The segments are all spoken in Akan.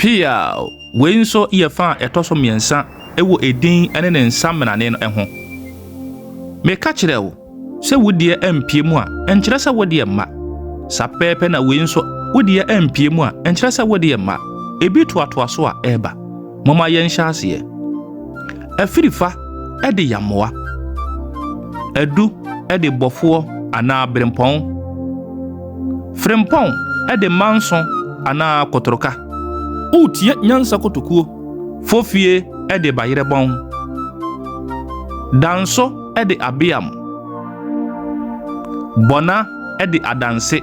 Pia, Wei nso yɛ fã a ɛtɔ so mmiɛnsa wɔ edin ne ne nsa mmenane no ho. Meka kyerɛɛ wo sɛ wo deɛ ampue mu a, ɛnkyerɛ sɛ wo deɛ mma. Saa pɛpɛɛpɛ na wei nso, wo deɛ ampue mu a, ɛnkyerɛ sɛ wo deɛ mma. Ebi toatoa so a, ɛreba. Momma yɛnhyɛ aseɛ. Afirifa de yammoa. Adu de bɔfoɔ anaa berempɔn. Frempɔn de manso anaa kotorka. Woretie nyansa kotokuo. Fofie de bayerɛbɔn. Danso de abeam. Bɔna de adanse.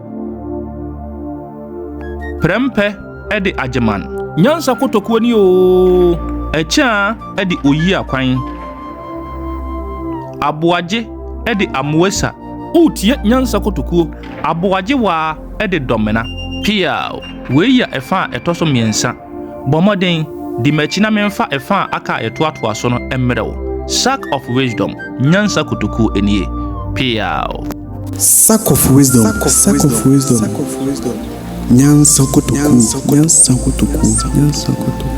Prɛmpɛ de Agyeman. Nyansa kotokuo ni oo. Ɛkyɛa de Oyi Akwan. Aboagye de Amoesa. Woretie Nyansa kotokuo. Aboagye waa de Dɔmena. Piaw, Wei yɛ ɛfa a ɛtɔ so mmiɛnsa. Bɔ mmɔden, di m'akyi na memfa ɛfã a aka a ɛtoatoa so no mmrɛ wo. Sack of Wisdom, Nyansa Kotoku nie. Peaw! Sack of Wisdom, Sack of Wisdom, Nyansa Kotoku, Nyansa Kotoku, Nyansa Kotoku.